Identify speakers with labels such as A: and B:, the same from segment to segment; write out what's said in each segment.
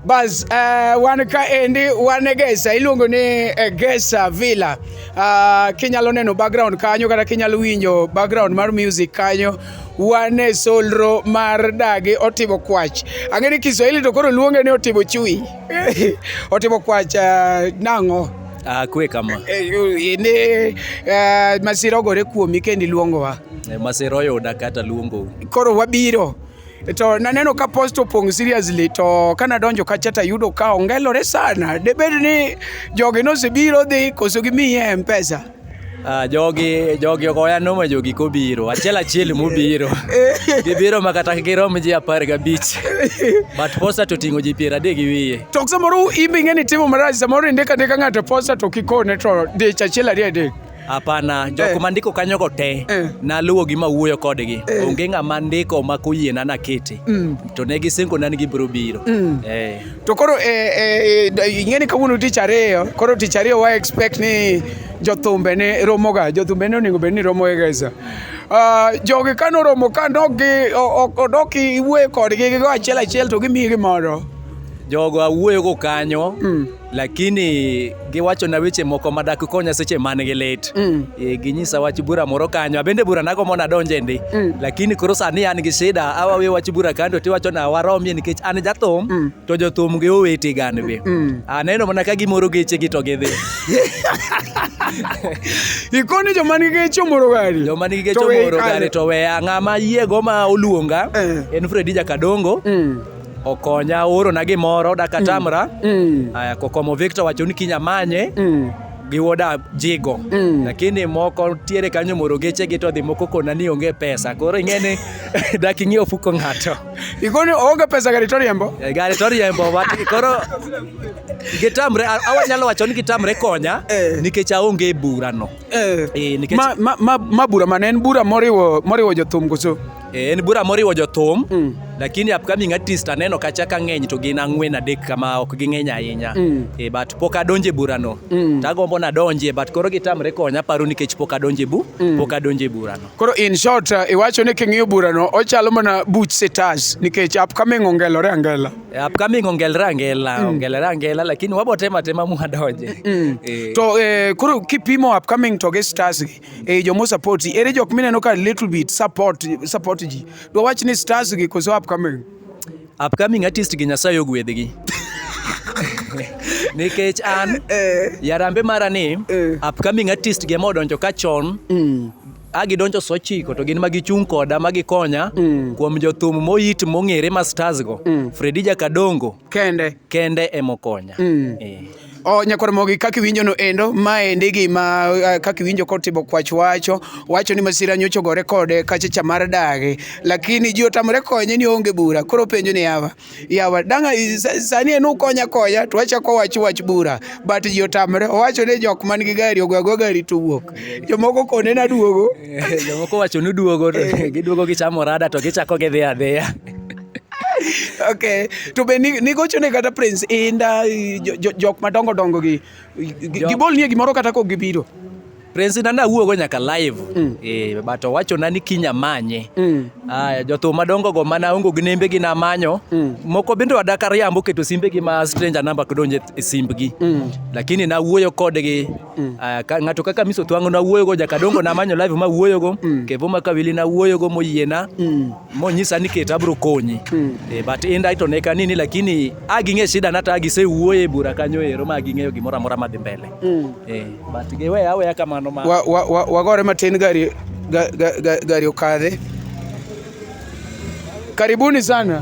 A: bas uh, eh, wan ka endi wan e Gesa iluongo ni eh, Gesa Villa uh, kinyalo neno background kanyo kata kinyalo winjo background mar music kanyo wan e solro mar dagi otimo kwach ang'e ni Kiswahili to koro luonge ni otimo chui otimo kwach uh, nang'o akwe uh, kama
B: uh, ini
A: uh, masira ogore kuomi kendi luongowa Eh, masira oyuda
B: kata luongo. Koro wabiro
A: to naneno ka post opong' seriously to kana donjo kacha to ayudo ka ongelore sana. Debed ni jogi nosebiro dhi koso gimiye mpesa. Ah, jogi
B: jogi ok oya noma jogi kobiro achiel achiel mobiro gibiro ma kata girom ji apar gabich but posta to ting'o ji piero adek gi wiye to samoro imbe
A: ing'e ni timo marach samoro indika ndika ng'ato posta to kikone to dich achiel ariyo adek Hapana, jok
B: eh. mandiko kanyogo te eh. naluwo gi mawuoyo kodgi eh. onge ng'ama ndiko ma koyiena nakete mm. to ne gisingona ni gibiro biro mm. eh. to
A: koro eh, eh, eh ing'e ni kawuono tich ariyo koro tich ariyo wa expect ni jothumbe ne romoga jothumbe ne onego bed ni romoega sa ah, jogi ka noromo ka odok iwuoyo kodgi gigo achiel achiel to gimiyi gimoro jogo
B: awuoyogo kanyo mm. lakini giwachona weche moko ma dak konya seche man gi lit mm. e, ginyisa wach bura moro kanyo abende bura nago mona donje ndi mm. lakini koro sani an gi shida awawe wach bura kando tiwachona waromie nikech an jathum mm. to jothum gi owete gan be mm. aneno mana ka gimoro geche gi to gidhi
A: ikoni joma nigi geche omoro gari joma nigi geche omoro
B: gari to weya ng'ama yiego ma oluonga eh. en Fredi Jakadongo mm. Okonya oro na gimoro dakatamra. Mm. mm. Aya kokomo Victor wacho ni kinyamanye. Mm. gi woda jigo mm. lakini moko tiere kanyo moro geche gi to dhi moko kona ni onge pesa koro ing'eni dak ing'e ofuko ng'ato ikoni oonge
A: pesa gari to riembo eh, gari to riembo
B: koro gitamre awanyalo wacho ni gitamre konya eh. nikech aonge e burano eh. eh, ma,
A: ma, ma, ma bura mane en bura moriwo, moriwo jothum koso Eh, en bura moriwo
B: jothum mm. lakini upcoming artist aneno kacha ka ng'eny to gin ang'wen adek kama ok ging'eny ahinya mm. e, but pok adonje burano mm. tagombo nadonje but koro gitamre konya paro nikech pok adonje bu mm. pok adonje burano koro in short
A: uh, iwacho ni king'iyo burano ochalo mana buch sitas nikech upcoming ongelore angela e, upcoming ongelore
B: angela mm. ongelore angela lakini wabotema tema muadonje mm. e. to
A: e, koro kipimo upcoming to gi sitas gi e eh, jomo support ere jok mineno ka little bit support support ji do wach ni stars gi koso upcoming upcoming artist gi nyasaye ogwedhgi nikech an eh. yarambe mara ni eh. upcoming artist gi ema odonjo ka chon mm. agidonjo so chiko to gin ma gichung' koda ma gikonya mm. kuom jothum moyit mong'ere ma stars go mm. fredi jakadongo kende kende emokonya mm. e. O nyakwar mogi kaka iwinjo no endo ma endi gima uh, kaka iwinjo kotimo kwach wacho wacho ni masira nyocho gore kode kache chamar dagi lakini ji otamre konye ni onge bura koro penjo ni yawa yawa danga i- sa- sani en ukonya konya to wachako wach wach bura but ji otamre owacho ni jok man gi gari ogwago gari to wuok jomoko kone na duogo jomoko wacho
B: ni duogo to giduogo gichamo rada to gichako gidhi adhiya
A: okay to be nigochone kata prince inda jok madongo dongo gi gibolnie gimoro kata kok gibiro prince inda
B: nawuogo nyaka live mm. eh, but owachona ni kinya manye mm. aya jothum madongo go mana ongo gi nembe gi namanyo mm. moko bende wadaka riambo keto simbe gi ma stranger number kidonje e simbgi mm. lakini nawuoyo kodgi mm. aya ka, ng'ato kaka miso twango nawuoyo go jakadongo namanyo live ma wuoyo go mm. kevo makawili nawuoyo go moyiena mm. monyisa ni ket abro konyi mm. e, but inda ito ne kanini lakini a ging'e shida nata a gisewuoyo e bura kanyo ero ma ging'eyo gimoro amora madhi mbele mm. e, but giweya aweya kamano ma wagore wa, wa, wa, wa
A: matin gari, ga, ga, ga, gari okadhe karibuni sana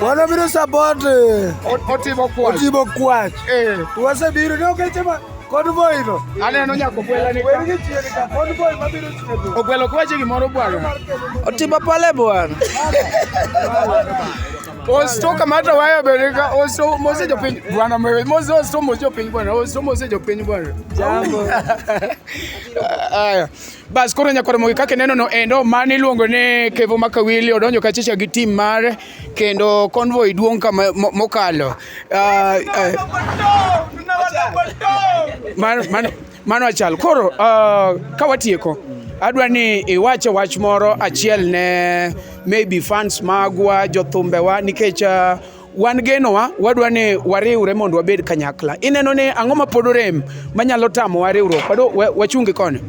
C: Wana biro support eh, Otibo
A: Kwach. Otibo Kwach. Eh. Wase biro
C: ne okeche ma kod boy no. Aneno nyako gwela
A: ni. Weri gi chieri ka kod boy
C: ma biro chieri. Ogwelo kwache gimoro bwana. Otibo
A: pale bwana.
D: Osto kamata waya bereka osto mose jo piny bwana mwe mose osto mose jo piny bwana osto mose jo piny bwana. Jambo.
A: Aya.
D: Bas koro nyaka Ramogi kaka ineno no endo mane iluongo ni Kevo Makawili odonjo kachicha gi tim mare kendo convoy duong' ka ma- mo- mokalo. Ah, ah, mano- mano- Mano achal. Koro ah, ka watieko adwa ni iwache wach moro achiel ne maybe fans magwa jothumbewa nikech ah, wan genowa wadwa ni wariwre mondo wabed kanyakla. Ineno ni ang'o ma pod orem manyalo tamowa riwruok? Wado wachungi koni.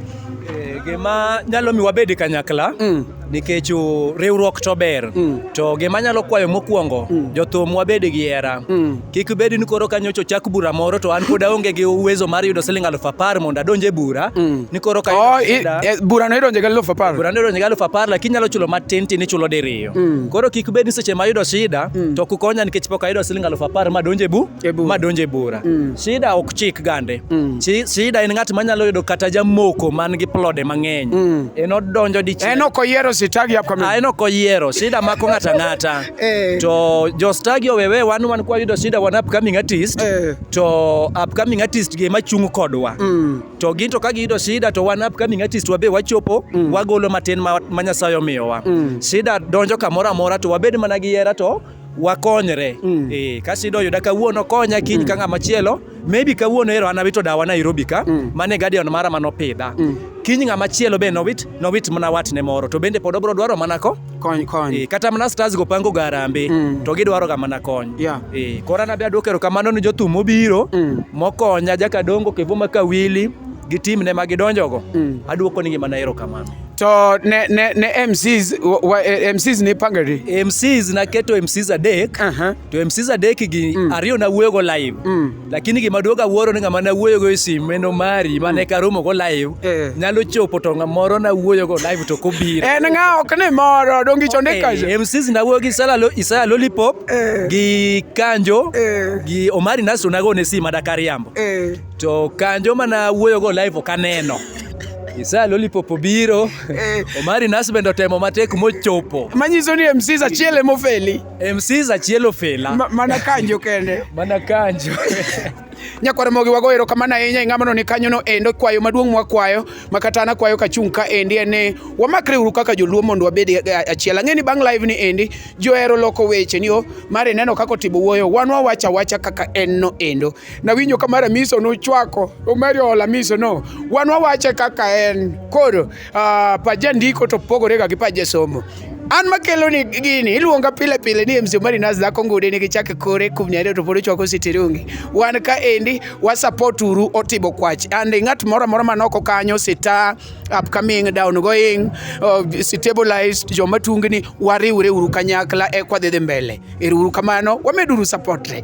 D: Eh, gima
A: nyalo mi wabed kanyakla mm. nikech riwruok to ber mm. to gima nyalo kwayo mokwongo mm. jothum wabed gi hera mm. kik bed ni koro ka nyocha ochak bura moro to an pod aonge gi uwezo mar yudo siling aluf apar mondo adonje bura mm. ni koro ka oh, e, bura no
D: idonje gi aluf apar bura no idonje gi aluf apar
A: lakini nyalo chulo matin tin ichulo diriyo Opiyo. Mm. Koro kik bed ni seche ma ayudo shida mm. to kukonya nikech pok ayudo siling alufu apar ma donje bu e ma donje bura. Mm. Shida ok chik gande. Mm. Shida en ng'at manyalo yudo kata jamoko man gi plode mang'eny. Mm. En odonjo dichiel. En ok oyiero sitagi
D: hapo kama. Ah, en ok oyiero. Shida
A: mako ng'ata ng'ata. eh. To jo stagi owewe wan wan kwa yudo shida wan upcoming artist. Eh. To upcoming artist gi ema chung kodwa. Mm. to gin to ka giyudo shida to wan upcoming artist wabe wachopo mm. wagolo matin ma, ma Nyasaye omiyowa mm. shida donjo kamoro amora to wabed mana gi hera to wakonyre mm. e, ka shida oyuda kawuono konya kiny mm. ka ng'ama chielo maybe kawuono ero an awito dawa Nairobi ka mm. mane guardian mara manopidha mm. kiny ng'ama chielo be nowit nowit mana watne moro to bende pod obro dwaro mana ko kony kony e, kata
D: mana stars go
A: pango garambe mm. to gidwaro ga mana kony yeah. e, kora nabe adwoko erokamano ni jothum mobiro mm. mokonya jakadongo kivuma kawili gi tim ne ma gidonjogo mm. adwoko nigi mana erokamano to ne,
D: ne, ne MCs, wa, eh, MCs ni pangari MCs naketo
A: MCs adek uh -huh. to MCs adek gi mm. ariyo nawuoyogo live mm. lakini gima duoga wuoro ni ng'ama na wuoyogo e simu en omari mane ka romo go live Eh. nyalo chopo to ng'a moro na wuoyogo live to kobiro en ng'a ok ni
D: moro donge icho ni kaje Eh, MCs na wuoyo gi Isaya
A: Lo- Isaya Lollipop Eh. gi Kanjo Eh. gi Omari Naso nago ne simu ada kariambo eh to Kanjo mana wuoyogo live ok aneno Isaya Lollipop obiro Eh. Omari Naso bende otemo matek mochopo manyiso ni MCs
D: achiel emofeli MC Zachielo
A: Fela. Ma- mana kanjo kende
D: Mana kanjo.
A: nyakwar
D: mogi wago erokamano ahinya e ng'amano ni kanyono endo kwayo maduong' mwakwayo ma kata an akwayo kachung' ka endi en ni wamakre uru kaka joluo mondo wabed e- e- achiel ang'e ni bang' live ni endi johero loko weche ni o mar ineno kaka otimo wuoyo wan wawacho awacha kaka en no endo nawinjo ka mar amiso nochwako omari ola miso no wan wawache kaka en koro Uh, pa jandiko to pogore ga gi pa jasomo an makelo ni gini iluonga pile pile ni MC Omari Nas dhako ngude ni gichake kore kum nyare to pod chwako sitirungi wan ka endi wa support uru otibo kwach and ng'at moro moro manoko kanyo sita upcoming down going uh, stabilized joma tungni wariwre uru kanyakla e kwa dhi mbele ero uru kamano wameduru support re